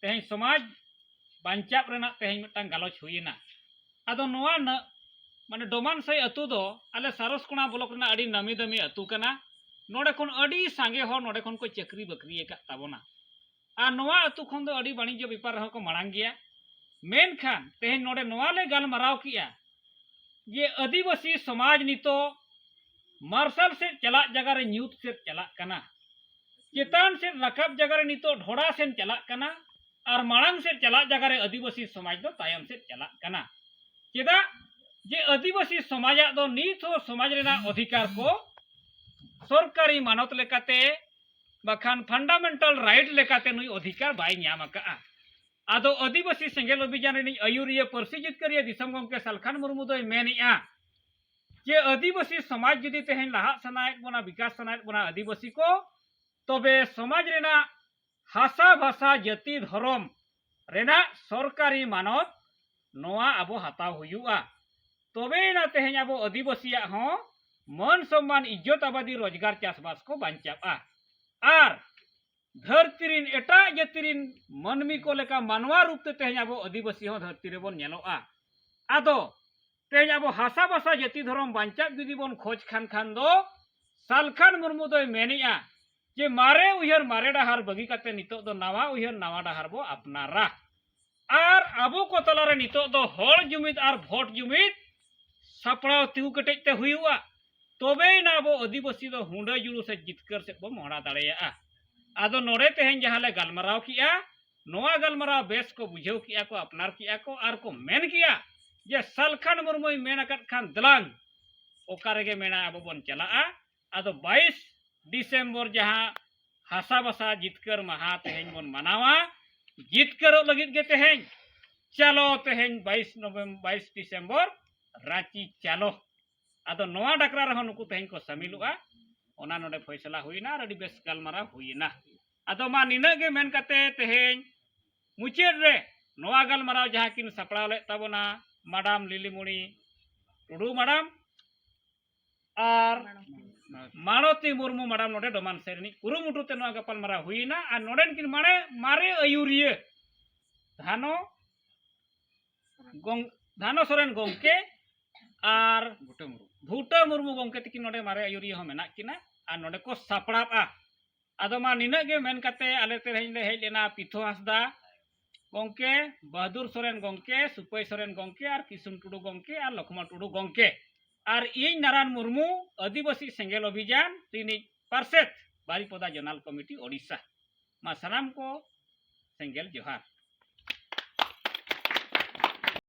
ᱛᱮᱦᱮᱧ ᱥᱚᱢᱟᱡᱽ ᱵᱟᱧᱪᱟᱜ ᱨᱮᱱᱟᱜ ᱛᱮᱦᱮᱧ ᱢᱤᱫᱴᱟᱝ ᱜᱟᱞᱚᱪ ᱦᱩᱭᱮᱱᱟ ᱟᱫᱚ ᱱᱚᱣᱟ ᱢᱟᱱᱮ ᱰᱚᱢᱟᱱᱥᱟᱹᱭ ᱟᱹᱛᱩ ᱫᱚ ᱟᱞᱮ ᱥᱟᱨᱚᱥᱠᱚᱬᱟ ᱵᱞᱚᱠ ᱨᱮᱱᱟᱜ ᱟᱹᱰᱤ ᱱᱟᱢᱤ ᱫᱟᱹᱢᱤ ᱟᱹᱛᱩ ᱠᱟᱱᱟ ᱱᱚᱰᱮ ᱠᱷᱚᱱ ᱟᱹᱰᱤ ᱥᱟᱸᱜᱮ ᱦᱚᱲ ᱱᱚᱰᱮ ᱠᱷᱚᱱ ᱠᱚ ᱪᱟᱹᱠᱨᱤ ᱵᱟᱹᱠᱨᱤ ᱟᱠᱟᱫ ᱛᱟᱵᱚᱱᱟ ᱟᱨ ᱱᱚᱣᱟ ᱟᱹᱛᱩ ᱠᱷᱚᱱ ᱫᱚ ᱟᱹᱰᱤ ᱵᱟᱹᱱᱤᱡᱽᱡᱚ ᱵᱮᱯᱟᱨ ᱨᱮᱦᱚᱸ ᱠᱚ ᱢᱟᱲᱟᱝ ᱜᱮᱭᱟ ᱢᱮᱱᱠᱷᱟᱱ ᱛᱮᱦᱮᱧ ᱱᱚᱰᱮ ᱱᱚᱣᱟ ᱞᱮ ᱜᱟᱞᱢᱟᱨᱟᱣ ᱠᱮᱜᱼᱟ ᱡᱮ ᱟᱹᱫᱤᱵᱟᱹᱥᱤ ᱥᱚᱢᱟᱡᱽ ᱱᱤᱛᱚᱜ ᱢᱟᱨᱥᱟᱞ ᱥᱮᱫ ᱪᱟᱞᱟᱜ ᱡᱟᱭᱜᱟ ᱨᱮ ᱧᱩᱛ ᱥᱮᱫ ᱪᱟᱞᱟᱜ ᱠᱟᱱᱟ ᱪᱮᱛᱟᱱ ᱥᱮᱫ ᱨᱟᱠᱟᱵ ᱡᱟᱭᱜᱟ ᱨᱮ ᱱᱤᱛᱚᱜ ᱰᱷᱚᱲᱟ ᱥᱮᱫ ᱪᱟᱞᱟᱜ ᱠᱟᱱᱟ ᱟᱨ ᱢᱟᱲᱟᱝ ᱥᱮᱫ ᱪᱟᱞᱟᱜ ᱡᱟᱭᱜᱟ ᱨᱮ ᱟᱹᱫᱤᱵᱟᱹᱥᱤ ᱥᱚᱢᱟᱡᱽ ᱫᱚ ᱛᱟᱭᱚᱢ ᱥᱮᱫ ᱪᱟᱞᱟᱜ ᱠᱟᱱᱟ ᱪᱮᱫᱟᱜ ᱡᱮ ᱟᱹᱫᱤᱵᱟᱹᱥᱤ ᱥᱚᱢᱟᱡᱟᱜ ᱫᱚ ᱱᱤᱛ ᱦᱚᱸ ᱥᱚᱢᱟᱡᱽ ᱨᱮᱱᱟᱜ ᱚᱫᱷᱤᱠᱟᱨ ᱠᱚ ᱥᱚᱨᱠᱟᱨᱤ ᱢᱟᱱᱚᱛ ᱞᱮᱠᱟᱛᱮ ᱵᱟᱠᱷᱟᱱ ᱯᱷᱟᱱᱰᱟᱢᱮᱱᱴᱟᱞ ᱨᱟᱭᱤᱴ ᱞᱮᱠᱟᱛᱮ ᱱᱩᱭ ᱚᱫᱷᱤᱠᱟᱨ ᱵᱟᱭ ᱧᱟᱢ ᱟᱠᱟᱜᱼᱟ ᱟᱫᱚ ᱟᱹᱫᱤᱵᱟᱹᱥᱤ ᱥᱮᱸᱜᱮᱞ ᱚᱵᱷᱤᱡᱟᱱ ᱨᱤᱱᱤᱡ ᱟᱹᱭᱩᱨᱤᱭᱟᱹ ᱯᱟᱹᱨᱥᱤ ᱡᱤᱛᱠᱟᱹᱨᱤᱭᱟᱹ ᱫᱤᱥᱚᱢ ᱜᱚᱢᱠᱮ ᱥᱟᱞᱠᱷᱟᱱ ᱢᱩᱨᱢᱩ ᱫᱚᱭ ᱢᱮᱱᱮᱜᱼᱟ ᱡᱮ ᱟᱹᱫᱤᱵᱟᱹᱥᱤ ᱥᱚᱢᱟᱡᱽ ᱡᱩᱫᱤ ᱛᱮᱦᱮᱧ ᱞᱟᱦᱟᱜ ᱥᱟᱱᱟᱭᱮᱫ ᱵᱚᱱᱟ ᱵᱤᱠᱟᱥ ᱥᱟᱱᱟᱭᱮᱫ ᱵᱚᱱᱟ ᱟᱹᱫᱤᱵᱟᱹᱥᱤ ᱠᱚ ᱛᱚᱵᱮ ᱥᱚᱢᱟᱡᱽ ᱨᱮᱱᱟᱜ ᱦᱟᱥᱟ ᱵᱷᱟᱥᱟ ᱡᱟᱹᱛᱤ ᱫᱷᱚᱨᱚᱢ ᱨᱮᱱᱟᱜ ᱥᱚᱨᱠᱟᱨᱤ ᱢᱟᱱᱚᱛ ᱱᱚᱣᱟ ᱟᱵᱚ ᱦᱟᱛᱟᱣ ᱦᱩᱭᱩᱜᱼᱟ ᱛᱚᱵᱮᱭᱮᱱᱟ ᱛᱮᱦᱮᱧ ᱟᱵᱚ ᱟᱹᱫᱤᱵᱟᱹᱥᱤᱭᱟᱜ ᱦᱚᱸ ᱢᱟᱹᱱ ᱥᱚᱢᱢᱟᱱ ᱤᱡᱽᱡᱚᱛ ᱟᱵᱟᱫᱤ ᱨᱳᱡᱽᱜᱟᱨ ᱪᱟᱥᱵᱟᱥ ᱠᱚ ᱵᱟᱧᱪᱟᱜᱼᱟ ᱟᱨ ᱫᱷᱟᱹᱨᱛᱤ ᱨᱤᱱ ᱮᱴᱟᱜ ᱡᱟᱹᱛᱤ ᱨᱤᱱ ᱢᱟᱹᱱᱢᱤ ᱠᱚ ᱞᱮᱠᱟ ᱢᱟᱱᱣᱟ ᱨᱩᱯ ᱛᱮ ᱛᱮᱦᱮᱧ ᱟᱵᱚ ᱟᱹᱫᱤᱵᱟᱹᱥᱤ ᱦᱚᱸ ᱫᱷᱟᱹᱨᱛᱤ ᱨᱮᱵᱚᱱ ᱧᱮᱞᱚᱜᱼᱟ ᱟᱫᱚ ᱛᱮᱦᱮᱧ ᱟᱵᱚ ᱦᱟᱥᱟ ᱵᱷᱟᱥᱟ ᱡᱟᱹᱛᱤ ᱫᱷᱚᱨᱚᱢ ᱵᱟᱧᱪᱟᱜ ᱡᱩᱫᱤ ᱵᱚᱱ ᱠᱷᱚᱡᱽ ᱠᱷᱟᱱ ᱠᱷᱟᱱ ᱫᱚ ᱥᱟᱞᱠᱷᱟᱱ ᱢᱩᱨᱢᱩ ᱫᱚᱭ ᱢᱮᱱᱮᱜᱼᱟ ᱡᱮ ᱢᱟᱨᱮ ᱩᱭᱦᱟᱹᱨ ᱢᱟᱨᱮ ᱰᱟᱦᱟᱨ ᱵᱟᱹᱜᱤ ᱠᱟᱛᱮ ᱱᱤᱛᱚᱜ ᱫᱚ ᱱᱟᱣᱟ ᱩᱭᱦᱟᱹᱨ ᱱᱟᱣᱟ ᱰᱟᱦᱟᱨ ᱵᱚ ᱟᱯᱱᱟᱨᱟ ᱟᱨ ᱟᱵᱚ ᱠᱚ ᱛᱟᱞᱟᱨᱮ ᱱᱤᱛᱚᱜ ᱫᱚ ᱦᱚᱲ ᱡᱩᱢᱤᱫ ᱟᱨ ᱵᱷᱳᱴ ᱡᱩᱢᱤᱫ ᱥᱟᱯᱲᱟᱣ ᱛᱤᱸᱜᱩ ᱠᱮᱴᱮᱡ ᱛᱮ ᱦᱩᱭᱩᱜᱼᱟ ᱛᱚᱵᱮᱭᱮᱱᱟ ᱟᱵᱚ ᱟᱹᱫᱤᱵᱟᱹᱥᱤ ᱫᱚ ᱦᱩᱸᱰᱟᱹ ᱡᱩᱲᱩ ᱥᱮ ᱡᱤᱛᱠᱟᱹᱨ ᱥᱮᱫ ᱵᱚ ᱢᱚᱦᱰᱟ ᱫᱟᱲᱮᱭᱟᱜᱼᱟ ᱟᱫᱚ ᱱᱚᱰᱮ ᱛᱮᱦᱮᱧ ᱡᱟᱦᱟᱸ ᱞᱮ ᱜᱟᱞᱢᱟᱨᱟᱣ ᱠᱮᱜᱼᱟ ᱱᱚᱣᱟ ᱜᱟᱞᱢᱟᱨᱟᱣ ᱵᱮᱥ ᱠᱚ ᱵᱩᱡᱷᱟᱹᱣ ᱠᱮᱜᱼᱟ ᱠᱚ ᱟᱯᱱᱟᱨ ᱠᱮᱜᱼᱟ ᱠᱚ ᱟᱨ ᱠᱚ ᱢᱮᱱ ᱠᱮᱜᱼᱟ ᱡᱮ ᱥᱟᱞᱠᱷᱟᱱ ᱢᱩᱨᱢᱩᱭ ᱢᱮᱱ ᱟᱠᱟᱫ ᱠᱷᱟᱱ ᱫᱮᱞᱟᱝ ᱚᱠᱟ ᱨᱮᱜᱮ ᱢᱮᱱᱟ ᱟᱵᱚ ᱵᱚᱱ ᱪᱟᱞᱟᱜᱼᱟ ᱟᱫᱚ ᱵᱟᱭᱤᱥ ᱰᱤᱥᱮᱢᱵᱚᱨ ᱡᱟᱦᱟᱸ ᱦᱟᱥᱟ ᱵᱟᱥᱟ ᱡᱤᱛᱠᱟᱹᱨ ᱢᱟᱦᱟ ᱛᱮᱦᱮᱧ ᱵᱚᱱ ᱢᱟᱱᱟᱣᱟ ᱡᱤᱛᱠᱟᱹᱨᱚᱜ ᱞᱟᱹᱜᱤᱫ ᱜᱮ ᱛᱮᱦᱮᱧ ᱪᱟᱞᱚ ᱛᱮᱦᱮᱧ ᱵᱟᱭᱤᱥ ᱱᱚᱵᱷᱮᱢᱵᱚᱨ ᱵᱟᱭᱤᱥ ᱰᱤᱥᱮᱢᱵᱚᱨ ᱨᱟᱸᱪᱤ ᱪᱟᱞᱚ ᱟᱫᱚ ᱱᱚᱣᱟ ᱰᱟᱠᱨᱟ ᱨᱮᱦᱚᱸ ᱱᱩᱠᱩ ᱛᱮᱦᱮᱧ ᱠᱚ ᱥᱟᱹᱢᱤᱞᱚᱜᱼᱟ ᱚᱱᱟ ᱱᱚᱰᱮ ᱯᱷᱚᱭᱥᱟᱞᱟ ᱦᱩᱭᱱᱟ ᱟᱨ ᱟᱹᱰᱤ ᱵᱮᱥ ᱜᱟᱞᱢᱟᱨᱟᱣ ᱦᱩᱭᱱᱟ ᱟᱫᱚ ᱢᱟ ᱱᱤᱱᱟᱹᱜ ᱜᱮ ᱢᱮᱱ ᱠᱟᱛᱮ ᱛᱮᱦᱮᱧ ᱢᱩᱪᱟᱹᱫ ᱨᱮ ᱱᱚᱣᱟ ᱜᱟᱞᱢᱟᱨᱟᱣ ᱡᱟᱦᱟᱸ ᱠᱤᱱ ᱥᱟᱯᱲᱟᱣ ᱞᱮᱫ ᱛᱟᱵᱚᱱᱟ ᱢᱟᱰᱟᱢ ᱞᱤᱞᱤᱢᱩᱬᱤ ᱴᱩᱰᱩ ᱢᱟᱰᱟᱢ ᱟᱨ ᱢᱟᱲᱚᱛᱤ ᱢᱩᱨᱢᱩ ᱢᱟᱰᱟᱢ ᱱᱚᱰᱮ ᱰᱚᱢᱟᱱ ᱥᱮ ᱨᱤᱱᱤᱡ ᱠᱩᱨᱩᱢᱩᱴᱩ ᱛᱮ ᱱᱚᱣᱟ ᱜᱟᱯᱟᱞᱢᱟᱨᱟᱣ ᱦᱩᱭᱮᱱᱟ ᱟᱨ ᱱᱚᱰᱮᱱ ᱠᱤᱱ ᱢᱟᱲᱮ ᱢᱟᱨᱮ ᱟᱹᱭᱩᱨᱤᱭᱟᱹ ᱫᱷᱟᱱᱚ ᱜᱚᱝ ᱫᱷᱟᱱᱚ ᱥᱚᱨᱮᱱ ᱜᱚᱝᱠᱮ ᱟᱨ ᱵᱷᱩᱴᱟᱹ ᱢᱩᱨᱢᱩ ᱜᱚᱝᱠᱮ ᱛᱤᱠᱤᱱ ᱱᱚᱰᱮ ᱢᱟᱨᱮ ᱟᱹᱭᱩᱨᱤᱭᱟᱹ ᱦᱚᱸ ᱢᱮᱱᱟᱜ ᱠᱤᱱᱟ ᱟᱨ ᱱᱚᱰᱮ ᱠᱚ ᱥᱟᱯᱲᱟᱜᱼᱟ ᱟᱫᱚ ᱢᱟ ᱱᱤᱱᱟᱹᱜ ᱜᱮ ᱢᱮᱱ ᱠᱟᱛᱮ ᱟᱞᱮ ᱛᱮᱦᱮᱧ ᱞᱮ ᱦᱮᱡ ᱞᱮᱱᱟ ᱯᱤᱛᱷᱚ ᱦᱟᱸᱥᱫᱟ ᱜᱚᱢᱠᱮ ᱵᱟᱦᱟᱫᱩᱨ ᱥᱚᱨᱮᱱ ᱜᱚᱢᱠᱮ ᱥᱩᱯᱟᱹᱭ ᱥᱚᱨᱮᱱ ᱜᱚᱢᱠᱮ ᱟᱨ ᱠᱤᱥᱩᱱ ᱴᱩᱰᱩ ᱜᱚᱢᱠᱮ ᱟᱨ ᱞᱚᱠᱷᱢᱚᱱ ᱴᱩᱰᱩ ᱜᱚᱢᱠᱮ ᱟᱨ ᱤᱧ ᱱᱟᱨᱟᱭᱚᱱ ᱢᱩᱨᱢᱩ ᱟᱹᱫᱤᱵᱟᱹᱥᱤ ᱥᱮᱸᱜᱮᱞ ᱚᱵᱷᱤᱡᱟᱱ ᱨᱤᱱᱤᱡ ᱯᱟᱨᱥᱮᱛ ᱵᱟᱨᱤᱯᱚᱫᱟ ᱡᱚᱱᱟᱞ ᱠᱚᱢᱤᱴᱤ ᱳᱰᱤᱥᱟ ᱢᱟ ᱥᱟᱱᱟᱢ ᱠᱚ ᱥᱮᱸᱜᱮᱞ ᱡᱚᱦᱟᱨ